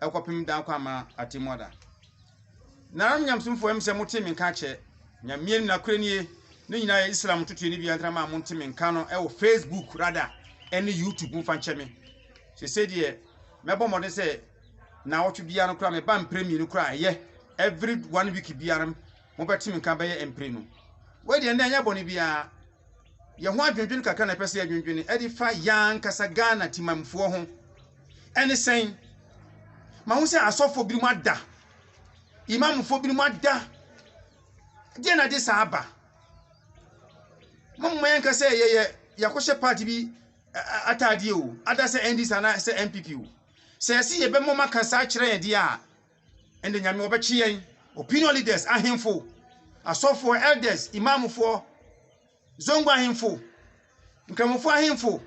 ɛkɔpem da kɔ ama atemmuo da. Nananom nyamesomfoɔ ɛm sɛ motee me nka akyɛ, Nyameɛ no nakorɛ nie, ne nyinaa yɛ Islam ntotoɛ ne bia ntrama a monte me nka no ɛwɔ Facebook rada ɛne YouTube mo fa nkyɛ me. Sese deɛ mɛbɔ mmɔden sɛ naawɔtwe bia no kora me ba mprɛ mmienu kora ɛyɛ every one week bia no mobɛte me nka bɛyɛ mprenu. Wei deɛ nnɛ ɛnyɛ bɔne biara. Yɛn ho adwendwene kakra na ɛpɛ sɛ yɛdwendwene ɛde fa yɛn ankasa Ghana timamfoɔ ho. Ɛne sɛn? Ma ho sɛ asɔfoɔ binom ada, imamfoɔ binom ada. Deɛ na de saa aba? Mama yɛn nka sɛ yɛyɛ yɛakɔhyɛ party bi ataadeɛ o, ada sɛ NDC anaa sɛ NPP o. Sɛ yɛsi yɛbɛma ɔma ka saa kyerɛ yɛn deɛ a, Ɛnde Nyame wɔbɛkye yɛn, opinion leaders, ahemfo, asɔfoɔ, elders, imamfoɔ, zongo ahemfo, nkramofoɔ ahemfo,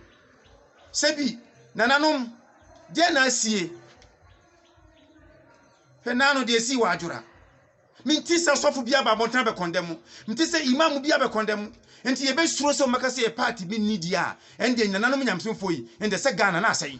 sɛbi, nananom, deɛ na asie? Hwɛ naa no deɛ esii wɔ adwora. Menti sɛ sɔfo bi aba abɔnten abɛkɔndɛ mo. Menti sɛ imam bi abɛkɔndɛ mo. Nti yɛbɛsuro sɛ wɔbɛka sɛ yɛ party bi nni deɛ a, ɛnde nananom nyamesomfoɔ yi, ɛnde sɛ Ghana na asɛe.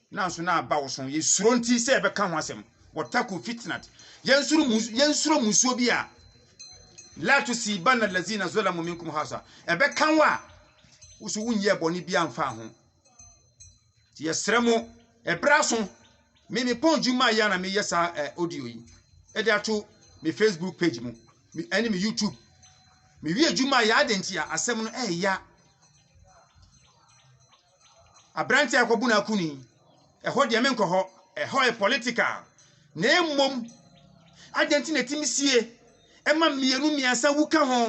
Nanso na aba wo so. Yɛsuro nti sɛ yɛbɛka ho asɛm. Wɔtako fitinat. Yɛnsuro musu, yɛnsuro mmusuo bi a. La to si ba na lazi na zola mo minkum hasa. Ɛbɛka wo a, woso wonyɛ bɔne bi amfa ho. Nti yɛsrɛ mo, ɛberɛ aso. Me me pɔn dwuma ayɛ na meyɛ saa eh, audio yi. Ɛde ato me Facebook page mu. Me, ɛne me YouTube. Mewie dwuma ayɛ adɛn nti a asɛm no ɛɛya. Aberanteɛ a ɔkɔbu no akuni, ɛhɔ deɛ menkɔ hɔ, ɛhɔ yɛ political. Na mmom, adɛn nti na ɛtumi sie ɛma mmienu mmiɛnsa wu ka ho?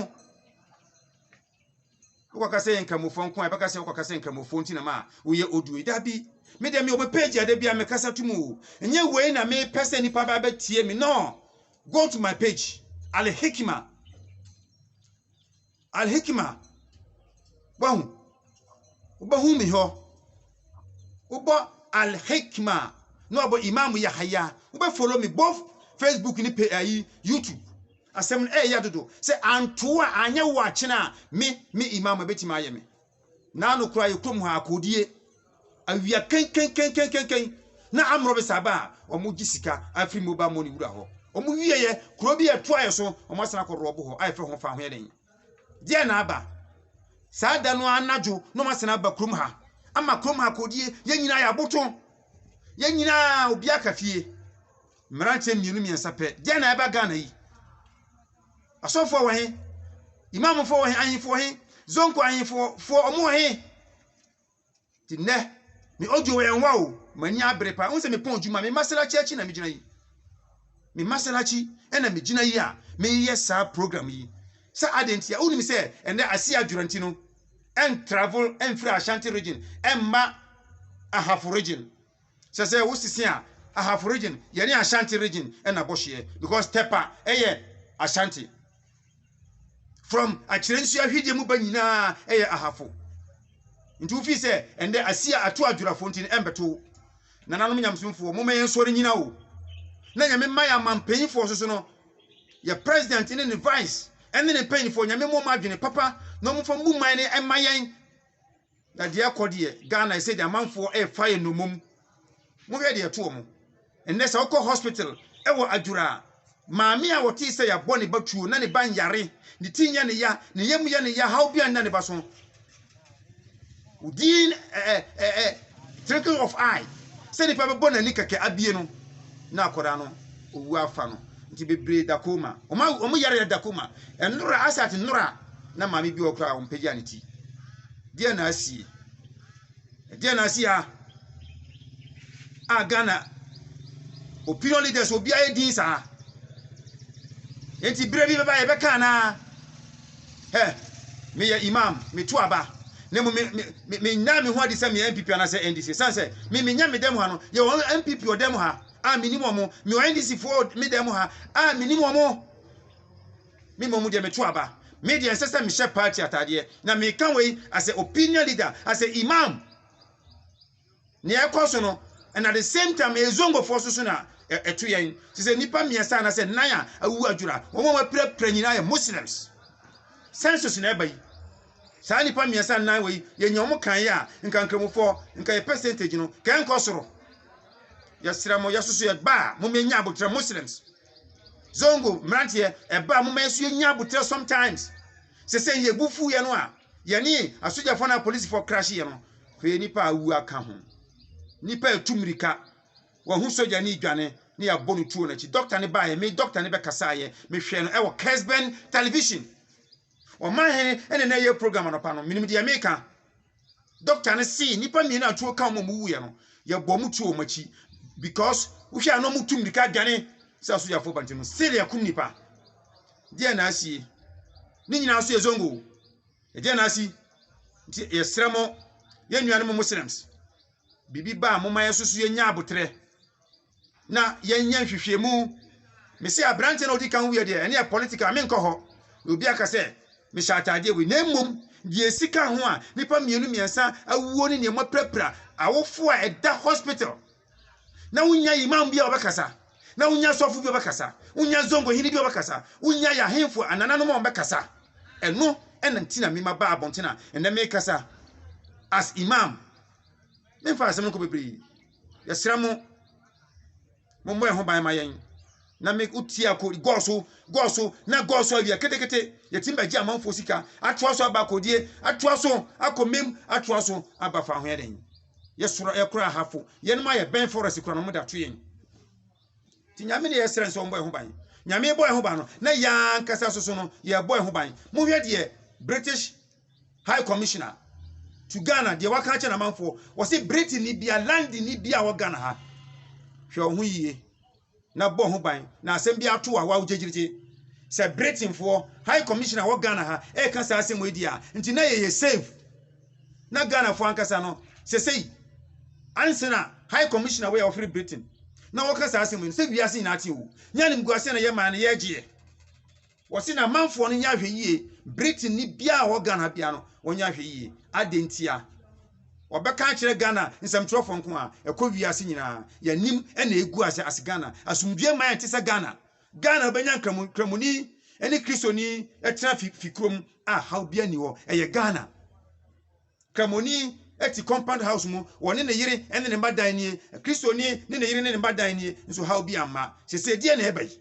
Wokɔka sɛ yɛ nkramofoɔ nko a ɛbɛka sɛ wokɔka sɛ nkramofoɔ nti na ma a woyɛ audio yi. Dabi, me deɛ mewɔ me page a da bi a mekasa to mu o. Ɛnyɛ wei na mepɛ sɛ nnipa ba bɛtie me, no. Go to my page, Alhikima. Al-Hikima, Wahu, wobɛhu me hɔ. Wobɔ Al-Hikima na wabɔ Imam Yahaya. Wobɛfollow me both Facebook ne pe ayi YouTube. Asɛm no ɛyɛ dodo sɛ antoa anyɛ wo akyena a me me Imam ɛbɛtumi ayɛ me. Naano koraa yɛ kurom ha akoodie awia kenkenkenkenken na amorɔ besaaba a ɔmo gye sika afiri mobal mɔni wura hɔ ɔmo wie yɛ kuro bi a ɛtoa yɛ so ɔmo asan akɔ rɔbo hɔ a yɛfrɛ ho fa ho yɛ den deɛ na aba saa da no anadwo na ɔmo asan aba kurom ha ama kurom ha akoodie yɛ nyinaa yɛ aboto yɛ nyinaa obi aka fie mmeranteɛ mmienu mmiɛnsa pɛ deɛ na ɛba Ghana yi. Asɔfoɔ wɔ he? Imamfoɔ wɔ he? Ahenfoɔ wɔ he? Zonko ahenfoɔ foɔ ɔmo wɔ he? Ti nnɛ, me audio wɔ yɛn hɔ o, m'ani abere paa. Wohu sɛ mepɔn adwuma, me Maserati akyi na megyina yi. Me Maserati ɛna megyina yi a meyɛ saa program yi. Sɛ adeɛ nti a, wonim sɛ ɛnɛ ase adwora nti no, ɛn travel ɛmfiri Ashanti region ɛmma Ahafo region. sɛ sɛ wo sisi a ahafo region yɛ ne ashanti region ɛna bɔ hyeɛ because tɛpa ɛyɛ ashanti from akyerɛ nsuo ahwedeɛ mu ba nyinaa ɛyɛ ahafo nti wofi sɛ ɛndɛ asia ato adwurafo nti no ɛmbɛto nananom nyamsomfoɔ moma yɛn nsɔre nyina o na nyame mma yɛ ama mpanyinfoɔ soso no yɛ president ne ne vice ɛne ne mpanyinfoɔ nyame mmɔ ma adwene papa na ɔmofa mbu man no ɛma yɛn Na deɛ ɛkɔ deɛ Ghana ɛsɛ deɛ amanfoɔ ɛrefa yɛ nnommum mohwɛ deɛ ɛto wɔn ɛnɛ sɛ wokɔ hospital ɛwɔ adwura a maame a wɔte sɛ yɛabɔ ne ba tuo na ne ba nyare ne ti yɛ ne ya ne yam yɛ ne ya haw bi anna ne ba so within ɛɛ ɛɛ thinking of eye sɛ nipa bɛbɔ n'ani kɛkɛ abie no na akɔda no owu afa no nti bebree dakoma wɔn wɔn yare dakoma ɛnora asate nora. na maame bi wɔ hɔ koraa a ɔmpagyaa ne ti. Deɛn na asi? Deɛn na asi ha? A Ghana opinion leaders obiara yɛ din saa. Enti berɛ bi bɛba yɛbɛka anaa? Hɛ, meyɛ imam, meto aba. na mmom menyaa me ho adi sɛ meyɛ npp anaasɛ ndc ɛsiane sɛ me menya me dɛm ha no yɛwɔ npp wɔ dɛm ha a menim wɔn mewɔ ndc foɔ me dɛm ha a menim wɔn Me mmom deɛ meto aba. Me deɛ ɛnsɛ sɛ mehyɛ party ataadeɛ. Na meka wei as a opinion leader, as a imam. Nea ɛkɔ so no, and at the same time ɛyɛ zongofoɔ nso so na ɛto yɛn. Te sɛ nnipa mmiɛnsa anaasɛ nnan a awuwu adwora, wɔn a wɔapirapira nyinaa yɛ Muslims. Census na ɛba yi. Saa nnipa mmiɛnsa nnan wei, yɛnya wɔn kan yɛ a, nka Nkramofoɔ, nka yɛ percentage no, nka ɛnkɔ soro. Yɛsrɛ mo, yɛsoso yɛ gbaa, mommɛnya aboterɛ Muslims. Zongo mmeranteɛ, ɛba a momma yɛso yɛnya aboterɛ sometimes. Sɛ sɛ yɛ bu fu yɛ no a, yɛne asogyafoɔ na apolisifoɔ krahye yɛ no, hwɛ nipa a awu aka ho. Nipa ɛtu mmirika, wahu sogya ne dwane ne yɛabɔ no tuo n'akyi. Dɔkta ne baeɛ, me dɔkta ne bɛkasaeɛ, mehwɛɛ no ɛwɔ Kesben television. Ɔman he na na ɛyɛ program anɔpa no. Menim deɛ meeka. Dɔkta no see nnipa mmienu a tuo ka wɔn a wɔwuiɛ no, yɛbɔɔ wɔn tuo wɔn akyi because wohwɛ a na wɔtu mmirika adwane sɛ asogyafoɔ ba nti no, still yɛakum nnipa. Deɛ na asie. Ne nyinaa so yɛ zongo. Ɛdeɛ na asi. Nti yɛsrɛ mo, yɛn nuanom Muslims, biribi ba a, momma yɛn nso so yɛnya aboterɛ. na yɛnyɛ nhwehwɛmu mese aberanteɛ na ɔdi kan wiɛ deɛ ɛne yɛ political menkɔ hɔ na obi aka sɛ mehyɛ ataadeɛ wei na mmom deɛ ɛsi ka ho a nnipa mmienu mmiɛnsa awuo ne nneɛma pirapira awofo a ɛda hospital na wonya imam bi a ɔbɛkasa na wonya sɔfo bi a ɔbɛkasa wonya zongo hene bi a ɔbɛkasa wonya yɛ ahemfo anananom a ɔbɛkasa ɛno ɛna nti na mema ba abɔnten a ɛnɛ mekasa as imam memfa asɛm no kɔ bebree Yɛsrɛ mo, mommɔ yɛn ho ban ma yɛn. Na me wotie akɔ gɔɔ so gɔɔ so na gɔɔ so awia ketekete yɛtim bɛgye amanfoɔ sika atoa so aba akɔdie atoa so akɔ mmam atoa so aba fa ho yɛ dɛn yɛsoro yɛkora ahafo yɛnom ayɛ bɛn forest kora no mo da to yɛn Nti Nyame ne yɛsrɛ sɛ ɔmbɔ yɛn ho ban. Nyame bɔ yɛn ho ban no, na yɛn ankasa nso so no, yɛbɔ yɛn ho ban. Monhwɛ deɛ British High Commissioner to Ghana, deɛ waka akyɛ n'amanfoɔ, wɔse Britain ni bia, London ni bia wɔ Ghana ha. Hwɛ wo ho yie, na bɔ ho ban, na asɛm bi ato a wawo gyegyegye. Sɛ Britainfoɔ High Commissioner wɔ Ghana ha, ɛka saa asɛm wei deɛ a, nti na yɛyɛ safe. na Ghanafoɔ ankasa no sɛsɛyi ansana high commissioner wei a ɔfiri Britain na wɔka saa asɛm yi no sɛ wiase nyinaa te o nyɛ animguaseɛ na yɛ maa no yɛgyeɛ wɔse na amanfoɔ no nyɛ ahwɛ yie Britain ni biara wɔ Ghana biara no wɔnyɛ ahwɛ yie adɛn ntia wɔbɛka akyerɛ Ghana nsɛmtwerɛfoɔ nko a ɛkɔ wiase nyinaa yɛnim ɛna ɛgu ase as Ghana asomdwoeɛ ma yɛn te sɛ Ghana Ghana wobɛnya nkramoni ne kristoni tena fi fi kurom a haw bia ni hɔ ɛyɛ Ghana kramoni ɛti compound house mu wɔne ne yere ne ne mma dan nie kristoni ne ne yere ne ne mma dan nie nso haw bia mma sese deɛ na ɛbɛyi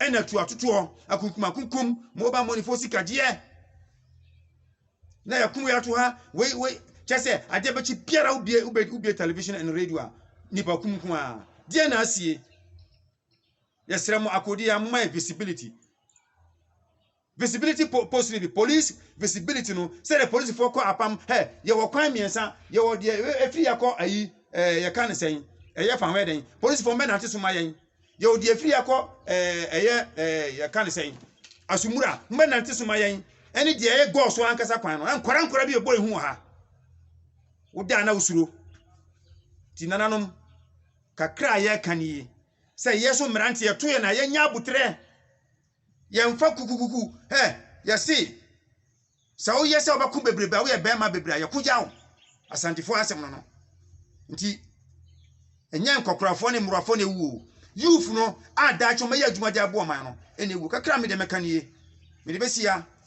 ɛna tu atotoɔ akunkum akunkum mobile money fo sika deɛ na yɛkum yɛ ato ha wei wei kyɛ sɛ adeɛ bɛkyi biara wobie wobie television and radio a nipa kum nko a deɛ na asie yɛsrɛ mo akodi a momma yɛ visibility visibility post no bi police visibility no sɛdeɛ polisifoɔ kɔ apam hɛ yɛwɔ kwan mmiɛnsa yɛwɔ deɛ ɛfiri yɛ akɔ ayi ɛɛ yɛka ne sɛn ɛyɛ fa ho yɛ dɛn polisifoɔ mbɛnante so ma yɛn yɛwɔ deɛ ɛfiri yɛ akɔ ɛɛ ɛyɛ ɛɛ yɛka ne sɛn asumura mbɛnante so ma yɛn ɛne deɛ ɛyɛ gɔɔ so ankasa kwan no nkora nkora bi ɛbɔ ehu wɔ ha wodaa na wosuro ti nananom. Kakra a yɛka no yi, sɛ yɛn so mmerante yɛto yɛn a yɛnyɛ aboterɛ, yɛmfa kukukuku, hɛ, yɛse sɛ woyɛ sɛ wobɛko bebrebe a woyɛ bɛrima bebrebe a yɛko gya wo, Asantefoɔ asɛm no no. Nti, ɛnyɛ nkɔkorafoɔ ne mmorowafoɔ na ɛwu o, youth no a daakye wɔbɛyɛ adwuma de aboa ɔman no na ɛwu. Kakra a me deɛ mɛka no yi, mede bɛsi ha.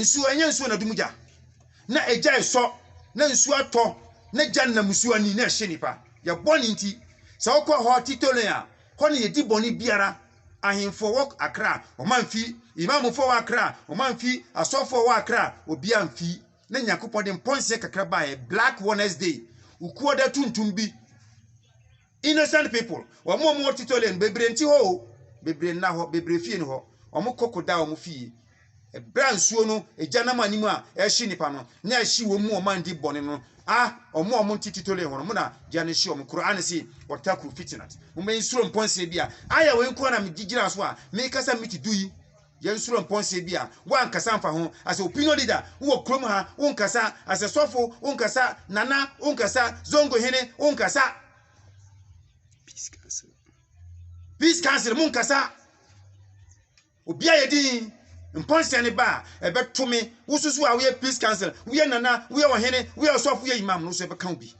Nsuo, ɛnyɛ nsuo na ɛdum gya. Na egya resɔ, na nsuo atɔ, na gya nam nsuo ani na ɛhye nnipa. Yɛn bɔne nti, sɛ wokɔ hɔ Titolin a, hɔ na yɛdi bɔne biara. Ahemfo wɔ Accra, wɔamfi. Imamfo wɔ Accra, wɔamfi. Asɔfo wɔ Accra, obiara amfi. Na Nyankopɔn de mpɔnseɛ kakra baeɛ, black Wednesday, ukuoda tuntum bi. Innocent people, wɔn a wɔwɔ Titolɛ no, bebree nte hɔ o, bebree nna hɔ, bebree fie nni hɔ. Wɔkɔko da wɔn fie. Ɛberɛ a nsuo no, egya nam anim a ɛrehye nnipa no, na ɛhye wɔn mu wɔn a wɔdi bɔne no, ah, wɔn a wɔnte Titolɛ hɔ no, wɔn na gya no hye wɔn. Qur'aan se, Wattaku fitinat, mommɛnsuro mpɔnsee bi a, aaya wei nko ara na mede gyina so a, merekasa miti du yi. Yɛnsuro mpɔnsee bi a woankasa amfa ho. As a opinion leader, wowɔ kurom ha, wonkasa. As a sɔfo, wonkasa. Nana, wonkasa. Zongo hene, wonkasa. Peace Council. Peace Council, monkasa. Obi a yɛ din, mpɔnsee ne ba a, ɛbɛto me. Wosusu a woyɛ Peace Council, woyɛ nana, woyɛ ɔhene, woyɛ ɔsɔfo, woyɛ imam no, so ɛbɛka wo bi.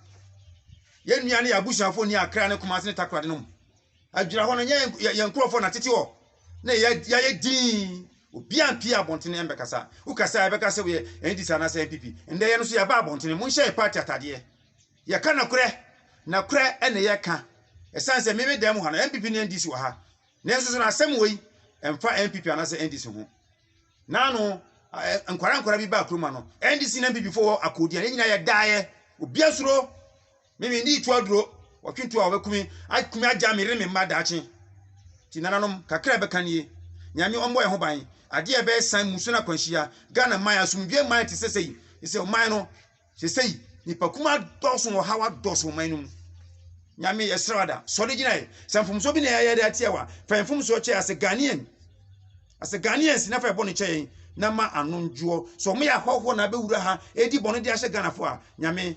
Yɛn nua ne yɛn abusuafo ni Accra ne Kumasi ne Takoradi no mu. Adwira hɔ no, nyɛ yɛn nkurɔfoɔ na tete hɔ. na yɛ yɛayɛ dinn obiara mpie abɔntene ɛmbɛkasa wokasa a ɛbɛka sɛ woyɛ ndc anaasɛ npp ndɛ yɛ no so yɛba abɔntene monhyɛ yɛ party atadeɛ yɛka nokorɛ nokorɛ ɛne yɛka ɛsiane sɛ meme dan mu ha no npp ne ndc wɔ ha nanso so no asɛm wei ɛmfa npp anaasɛ ndc ho naano nkwara nkwara bi ba akuroma no ndc ne npp fo wɔ akɔdi a ne nyinaa yɛdaeɛ obia suro Me me nni tu aduro wɔtwe tu a wɔbɛku me aku me agya me yere me mma daakye ti nananom kakra ɛbɛka nie nyame ɔmmɔ yɛn ho ban adeɛ a ɛbɛyɛ san musuo no akwanhyia Ghana man asomdwoe man te sɛ sɛyi ɛsɛ ɔman no sɛ sɛyi nipa kuma dɔɔso wɔ ha wadɔɔso wɔ man no mu nyame yɛsrɛ wada sɔre gyina yɛ sɛ mfomsoɔ bi na yɛayɛ de atia wa fa yɛn mfomsoɔ kyɛ asɛ Ghanaian asɛ Ghanaians na fa yɛ bɔne kyɛ yɛn na ma ano ndwoɔ sɛ ɔmo yɛ ahɔhoɔ na abɛwura ha ɛdi bɔne de ahyɛ Ghanafoɔ a nyame